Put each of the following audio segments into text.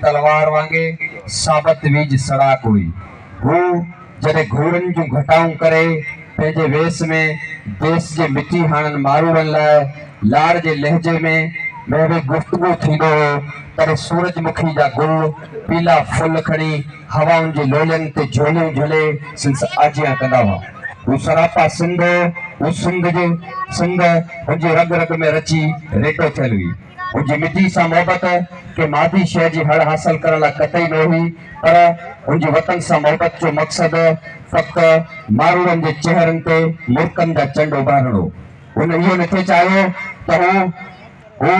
تلوار وانگي ثابت ويجهه سڙاڪ هئي. هو جڏهن گهوڙن جون گهٽائون ڪري پنهنجي ويس ۾ ديس جي مٽي هاڻن ماروئڙن لاء لاڙ جي لهجي ۾ ويهي گفتگو ٿيندو هو تڏهن سورج مکي جا گل پيلا ڦل کڻي هوائن جي لولين تي جهوليون جهلي سندس آجيان ڪندا هئا. هو سراپا سنڌ هو. هو سنڌ هو. سنڌ هن جي رڳ رڳ ۾ رچي ريٽو ٿيل هئي. هن جي مٽي سان محبت ڪنهن مادي شيء جي هڙ حاصل ڪرڻ لاء قطعي نه هئي، پر هن جي وطن سان محبت جو مقصد فقط ماروئڙن جي چهرن تي مرڪن جا چنڊ اڀارڻ هو. هن اهو نه ٿي چاهيو ته هو هو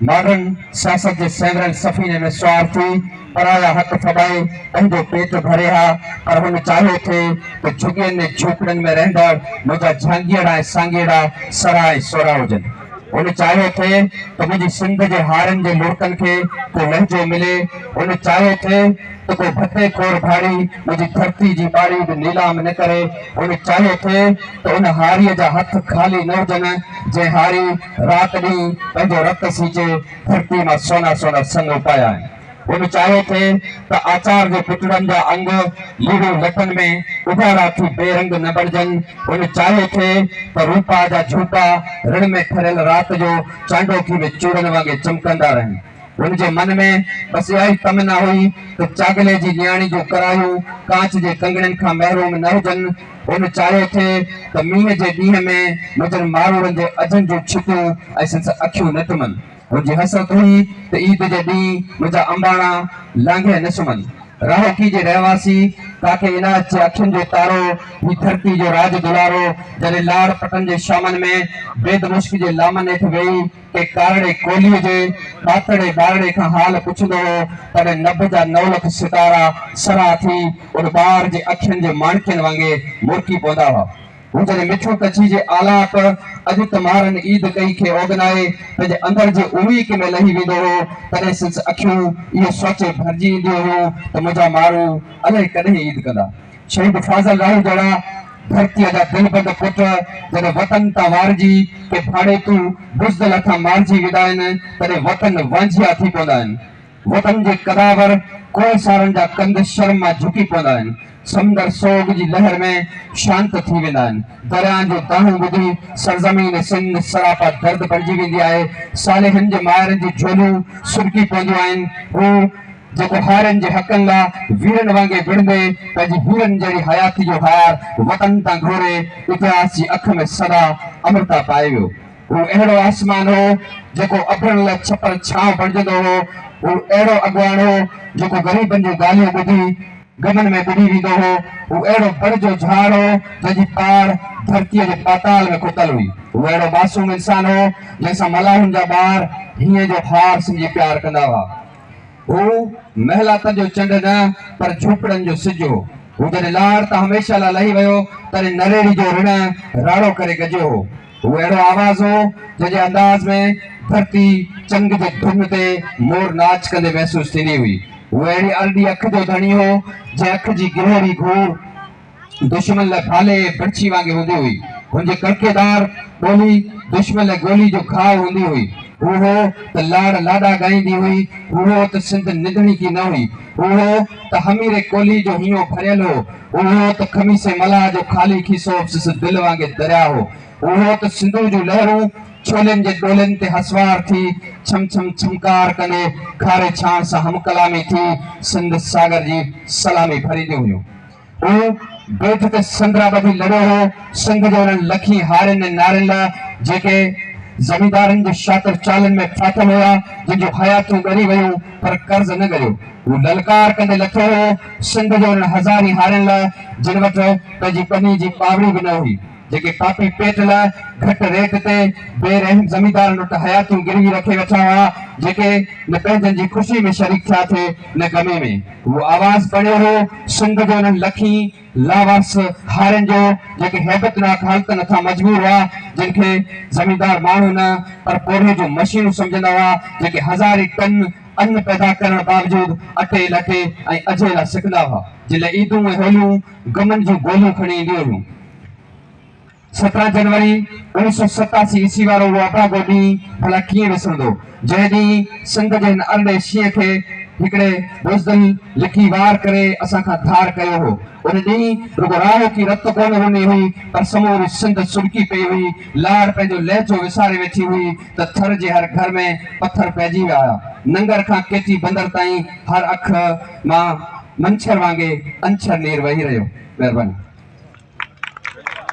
ماڊرن سياست جي سينگريل سفيني ۾ سوار ٿي پرايا حق ڦٻائي پنهنجو پيٽ ڀري ها، پر هن چاهيو ٿي ته جهڳين ۽ جهوپڙين ۾ رهندڙ منهنجا جهانگيئڙا ۽ سانگيئڙا سرها ۽ سورها هجن. هن چاهيو ٿي ته منهنجي سنڌ جي هارين جي لڙڪن کي ڪو لهجو ملي، هن چاهيو ٿي ته ڪو ڀتي خور ڀاڙي منهنجي ڌرتي جي ٻاري به نيلام نه ڪري، هن چاهيو ٿي ته ان هاريء جا هٿ خالي نه هجن، جنهن هاري رات ڏينهن پنهنجو رت سيچي ڌرتي مان سونا سونا سڱ اپايا آهن. هن چاهيو ٿي ته آچار جي پتڙن جا انگ ليڙو لٽن ۾ اڌارا ٿي بي رنگ نه بڻجن. هن چاهيو ٿي ته روپاء جا جهوٽا رڻ ۾ ٺريل رات جو چانڊوڪي ۾ چوڙن وانگي چمڪندا رهن. هن جي من ۾ بس اها ئي تمنا هئي ته چاڳلي جي نياڻي جون ڪراهيون ڪانچ جي ڪنگڻين کان محروم نه هجن. هن چاهيو ٿي ته مينهن جي ڏينهن ۾ مجن ماروئڙن جي اجهن جون ڇتيون ۽ سندس اکيون نه ٽمن. منهنجي حسرت هئي ته عيد جي ڏينهن منهنجا انباڻا لانگهي نه سمهن. راهوڪي جي رهواسي ڪاڪي عنايت جي اکين جو تارو، هي ڌرتي جو راڄ دلارو، جڏهن لاڙ پٽن جي شامن ۾ بيد مشڪ جي لامن هيٺ ويهي ڪنهن ڪارڙي ڪولهيء جي ڏاتڙي ٻارڙي کان حال پڇندو هو، تڏهن نڀ جا نو لک ستارا سرها ٿي ان ٻار جي اکين جي ماڻڪين وانگي مرڪي پوندا هئا. هو جڏهن مٺو ڪڇي جي آلاپ اڄ تمارن عيد ڪئي کي اوڳنائي پنهنجي اندر جي اويڪ ۾ لهي ويندو هو تڏهن سندس اکيون اهو سوچي ڀرجي اينديون هيون ته منهنجا ماڻهو الائي ڪڏهن عيد ڪندا. شهيد فاضل راهي جهڙا ڌرتيء جا دلبند پٽ جڏهن وطن تان وارجي ڪي ڀاڙيتو بزدل هٿان مارجي ويندا آهن تڏهن وطن وانجهيا ٿي پوندا آهن. وطن جي قداور ڪوهسارن جا ڪنڌ شرم مان جهڪي پوندا آهن، سمنڊر سوڳ جي لهر ۾ شانت ٿي ويندا آهن، درياهن جون دانهون ٻڌي سرزمين سنڌ سراپا درد بڻجي ويندي آهي، صالحن جي مائرن جون جهوليون سڏڪي پونديون آهن، هو جيڪو هارين جي حقن لا ويرن وانگي وڙهندي پنهنجي هيرن جهڙي حياتي جو هار وطن تان گهوري اتهاس جي اک ۾ سدا امرتا پائي ويو. هو اهڙو آسمان هو، جيڪو ابرن لاء ڇپر ڇانو بڻجندو هو. هو اهڙو اڳواڻ هو، جيڪو غريبن جون ڳالهيون ٻڌي، غمن ۾ ٻڏي ويندو هو. هو اهڙو بڙ جو جهاڙ هو، جنهن جي پاڙ ڌرتيء جي پاتال ۾ کتل هئي. هو اهڙو معصوم انسان هو، جنهن سان ملاحن جا ٻار هينء جو هار سمجهي پيار ڪندا هئا. هو محلاتن جو چنڊ نه، پر جهوپڙن جو سج هو. هو جڏهن لاڙ تان هميشه لاء لهي ويو، تڏهن نريڙي جو رڻ راڙو ڪري گجيو هو. هو اهڙو آواز هو، جنهن جي انداز ۾ ڌرتي چنگ جي ڌن تي مور ناچ ڪندي محسوس ٿيندي هئي. هو اهڙي ارڏي اک جو ڌڻي هو، جنهن اک جي گهري گهور دشمن لاء ڀالي ۽ برڇي وانگي هوندي هئي. هن جي ڪڙڪي دار ٻولي دشمن لاء گولي جو گهاء هوندي هئي. هو هو ته لاڙ لاڏا ڳائيندي هئي. هو هو ته سنڌ نڌڻي ڪي نه هئي. هو هو ته هميري ڪولهي جو هينئون ڀريل هو. اهو ته خميسي ملاح جو خالي کيسو سندس دل وانگي درياء هو. اهو ته سنڌوء جون لهرون ڇولين جي ڏولين تي هسوار ٿي، ڇم ڇم ڇمڪار ڪندي، کاري ڇاڻ سان هم ڪلامي ٿي، سنڌ ساگر جي سلامي ڀرينديون هيون. اهو بيت ته سندرا ٻڌي لڙيو هو، سنڌ جي انهن لکين هارين ۽ نارين لاء، جيڪي زميندارن جي شاطر چالن ۾ ڦاٿل هيا، جن جون حياتيون ڳري ويون، پر قرض نه ڳريو. هو للڪار ڪندي لٿو هو. سنڌ جي انهن هزارين هارين لاء جن وٽ پنهنجي ٻني جي پاوڙي به نه هئي، جيڪي پاپي پيٽ لاء گهٽ ريٽ تي بي رحم زميندارن وٽ حياتيون گروي رکي ويٺا هئا، جيڪي نه پنهنجن جي خوشي ۾ شريڪ ٿيا ٿي نه غمي ۾. هو آواز بڻيو هو سنڌ جي انهن لکين لاوارث هارين جو، جيڪي هيبتناڪ حالتن هٿان مجبور هئا، جن کي زميندار ماڻهو نه پر پورهيي جون مشينون سمجهندا هئا، جيڪي هزارين ٽن ان پيدا ڪرڻ باوجود اٽيل اٽي ۽ اجهيلا سڪندا هئا. جن لاء عيدون ۽ هوليون غمن جون گوليون کڻي اينديون هيون. سترهن جنوري اوڻيهه سؤ ستاسي عيسوي وارو اهو اڀاڳو ڏينهن ڀلا ڪيئن وسرندو، جنهن ڏينهن سنڌ جي هن ارڏي شينهن کي هڪڙي بزدل لڪي وار ڪري اسان کان ڌار ڪيو هو. ان ڏينهن رڳو راهوڪي رت ڪونه رني هئي، پر سموري سنڌ سڏڪي پئي هئي. لاڙ پنهنجو لهجو وساري ويٺي هئي. ته ٿر جي هر گهر ۾ پٿر پئجي ويا هيا. ننگر کان ڪيچي بندر تائين هر اک مان منڇر وانگي انڇر نير وهي رهيو. مهرباني.